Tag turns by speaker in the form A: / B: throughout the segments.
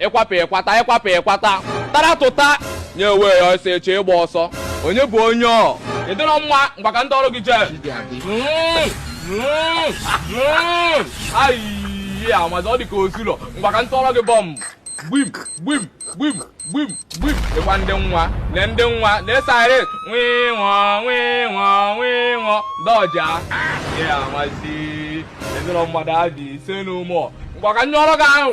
A: ịkwapụ ịkwata ịkwapụ ịkwata tara tụta nye onwe ya ọsọ eche ịgba ọsọ onye bụ onye ọ ịdịrọ mma ngwa ka ndị ọrụ gị jee ayi amazi ọ dị ka osulọ ngwa ka ndị ọrụ gị bomb gbim gbim gbim gbim gbim ịgwa ndị nwa lee ndị nwa lee siren nwee nwụọ nwee nwụọ nwee nwụọ dọja ya amazi ịdịrọ mmadụ adị ise n'ụmụ ngwa ka ndị ọrụ gị ahụ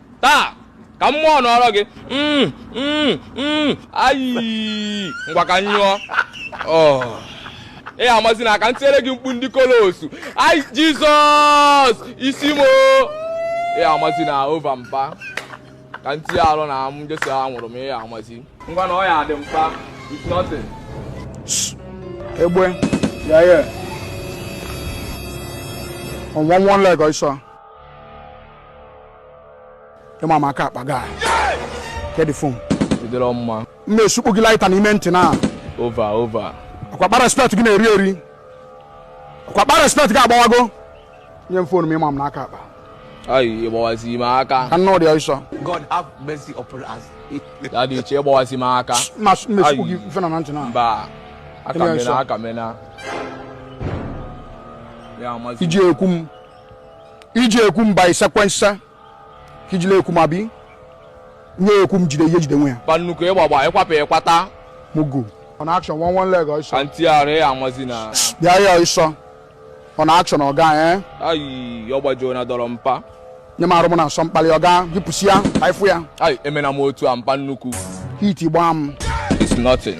A: taa ka mmụọ nọrọ gị mm, mm, mm, ayi ngwa ka nyụọ oh. ị ya amazi na aka m tinyere gị mkpu ndị kolosu ai jizọs isi mo ị ya amazi na over mpa ka m tinye arụ na m jesịa nwụrụ m ị ya amazi ngwa na ọ ya adị mpa it's nothing egbe ya ya one one leg ọsọ ịma m aka akpa ga kedụ phone bidoro mma mma esukpu gị lighter n'ime ntị na over over ọkwakpa respect gị na-eri eri ọkwakpa respect gị agbawago nye m phone m ịma m n'aka akpa ayi ịgbawazi ime aka ka nna ụdị ọsọ God have mercy upon us. ya dị iche ịgbawazi ime aka mma esukpu gị ife na na ntị na mba aka Ịme mena ọsọ. aka mena ya amazi iji ekwu m iji ekwu mba sequence ka ijile ekwu ma bi nye ekwu m jide ihe jide onwe ya ba nnukwu ịgbagba ịkwapụ ịkwata mugu on action one one leg ọsọ anti arụ ya amazi na bịa ya ọsọ on action ọga eh ayi ọ gbajuo na dọrọ mpa nye m arụ m na nsọ mkpali ọga jipụsi ya ka ịfụ ya ayi emena m otu a mpa nnukwu heat gbaa m it's nothing